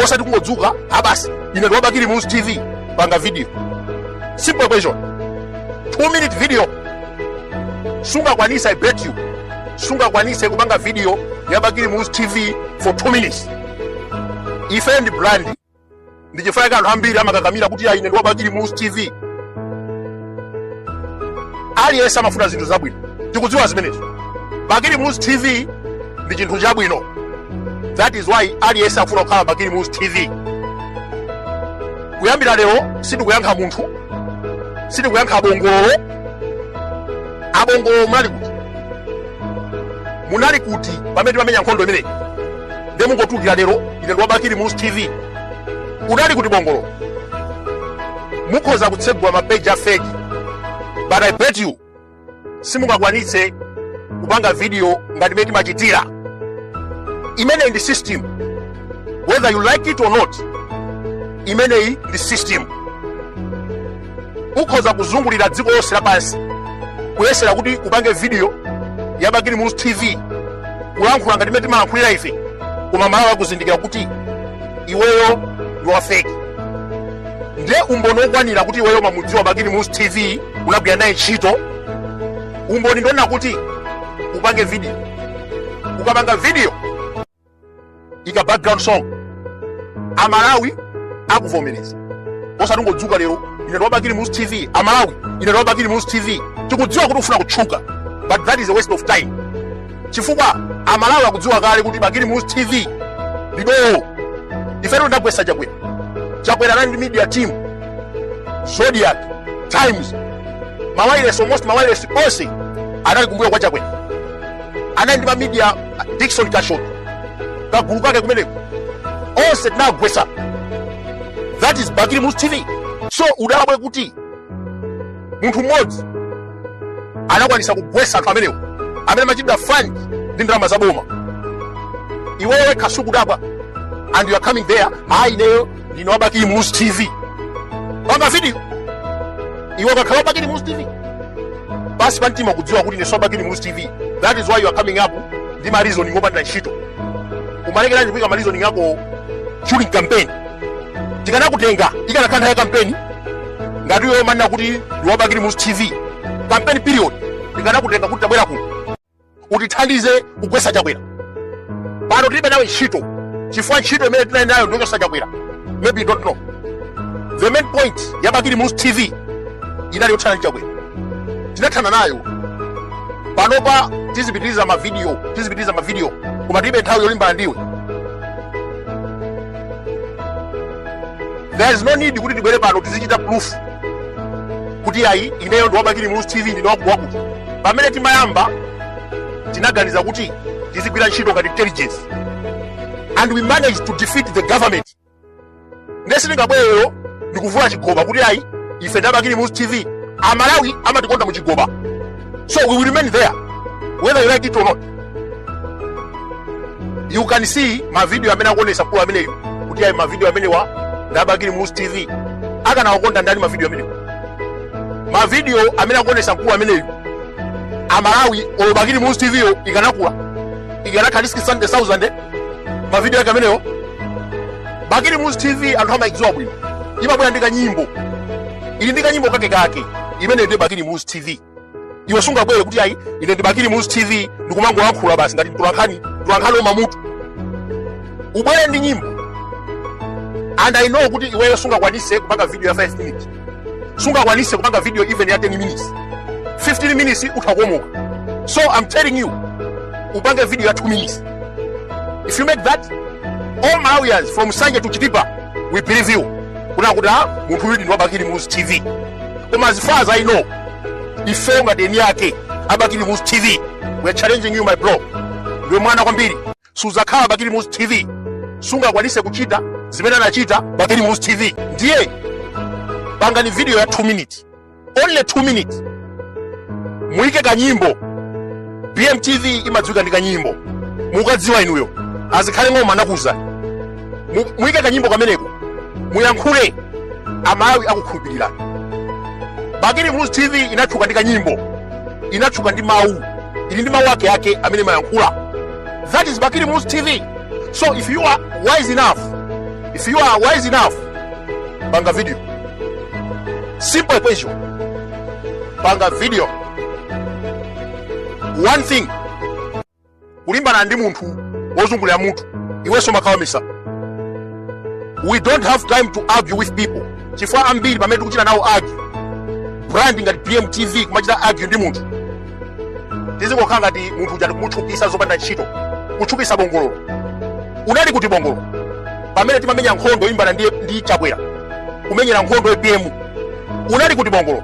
osati kungodzuka a basi ine ndi wa bakili muluzi tv panga video simple question two minute video sungakwanitse i bet you sungakwanitse kupanga video ya bakili muluzi tv for two minutes ife ndi brand ndichifukwa chake anthu ambiri amakakamira kuti ayi ine ndi wa bakili muluzi tv aliyense amafuna zinthu zabwino tikudziwa zimenezo bakili muluzi tv ndi chinthu chabwino that is why aliyense akufuna kukhala bakili muluzi tv kuyambira lero sindikuyankha munthu sindikuyankha abongololo abongololo munali kuti munali kuti pamene timamenya nkhondo imeneyi nde mungotulukira lero ine ndi wa bakili muluzi tv unali kuti bongolo mukhoza kutsegula mapeji a fake but i bet you simungakwanitse kupanga video ngati mmene timachitira imeneyi ndi system whether you like it or not imeneyi ndi system ukhoza kuzungulira dziko lonse lapansi kuyesera kuti upange video ya bakili muluzi tv kulankhula ngati mmene timalankhulira ife koma amalawi akuzindikira kuti iweyo ndi wafeki ndiye umboni wokwanira kuti iweyo umamudziwa bakili muluzi tv unagwira naye ntchito umboni ndi wonena kuti upange video ukapanga video ika background song amalawi akuvomereza osati ungodzuka lero ine ndi wa bakili muluzi tv amalawi ine ndi wa bakili muluzi tv tikudziwa kuti ufuna kutchuka but that is a waste of time chifukwa amalawi akudziwa kale kuti bakili muluzi tv ndi dolo ifetu tinagwetsa chakwera chakwera anali ndi media team zodiak times mawailesi almost mawailesi onse anali kumbuyo kwa chakwera anali ndi ma media dickson kashoti kagulu kake kumeneko onse tinagwetsa that is bakili muluzi tv sukudabwa kuti munthu mmodzi anakwanitsa kugwetsa anthu amenewo amene amachitidwa fund ndi ndalama za boma iweyo sukudabwa and you are coming there ayi ineyo ndine wa bakili muluzi tv panga video iwe ukakhala wa bakili muluzi tv pansi pamtima ukudziwa kuti siwe wa bakili muluzi tv that is why you are coming up ndi ma reasoning opanda ntchito umalekeranji kuika ma reasoning ako during campaign tikanakutenga ikanakhala nthawi ya kampeni ngati iwe umanena kuti ndi wa bakili muluzi tv campaign period tikanakutenga kuti tabwera kuno utithandize kugwetsa chakwera pano tilibe nawe ntchito chifukwa ntchito imene tinali nayo ndi yochotsa chakwera maybe you don't know the main point ya bakili muluzi tv inali yothana ndi chakwera tinathana nayo panopa tizipitiriza mavidiyo koma tilibe nthawi yolimbana ndiwe there is no need kuti tibwere pano tizichita proof kuti ayi ineyo ndi wabakili muluzi tv ndine wakutiwakuti pamene timayamba tinaganiza kuti tizigwira ntchito ngati intelligence and we managed to defeat the government ndiye sitingabwere ndikuvula chigoba kuti ayi ife ndi abakili muluzi tv amalawi amatikonda mu chigoba So we will remain there, whether you like it or not. Mukanena mavidiyo amene akuonesa mkulu ameneyu kuti ayi ma video amenewa ndi abakili Muluzi TV akanawakonda ndani ma video amenewa ma video amene akuonesa mkulu ameneyu amalawi olo bakili Muluzi TV yo ikanakula ikanakhala 70000 ma video ake amenewa bakili Muluzi TV anthu amayidziwa bwino imabwera ndi kanyimbo ili ndi kanyimbo kake kake imeneyo ndiye bakili muluzi tv iwe sungabwere kuti ayi ine ndi bakili muluzi tv ndikumangolankhula basi ngati mtulankhani mtulankhani wa ma mutu ubwere ndi nyimbo and i know kuti iweyo sungakwanise kupanga video ya 5 minutes sungakwanise kupanga video even ya 10 minutes 15 minutes utha kukomoka so i'm telling you upange video ya 2 minutes if you make that all malawians from nsanje to chitipa will believe you kunena kuti ah, munthu uyudi ndi wabakili muluzi tv koma as far as i know ifeyo ngati eni ake abakili muluzi tv we are challenging you my bro ndiwe mwana kwambiri suzakhala bakili muluzi tv sungakwanise kuchita zimene anachita bakili muluzi tv ndiye pangani video ya 2 minutes only 2 minutes muike kanyimbo bmtv imadziwika ndi kanyimbo mukadziwa inuyo azikhale ng'oma anakuuza Mu- muyike kanyimbo kameneko muyankhule amalawi akukhulupirirani bakili muluzi tv inatchuka ndi kanyimbo inatchuka ndi mawu ili ndi mawu ake ake amene imayankhula that is bakili muluzi tv so if you are wise enough if you are wise enough panga video simple equation panga video one thing kulimbana ndi munthu wozungulira mutu iwenso umakhala wamisala we don't have time to argue with people chifukwa ambiri pamene tikuchita nawo argue brand ngati bmtv kumachita argue ndi munthu tizingokhala ngati munthu uja tikumutchukisa zopanda ntchito kutchukisa bongololo unali kuti bongololo pamene timamenya nkhondo yolimbana ndi, ndi chakwera kumenyera nkhondo apm unali kuti bongololo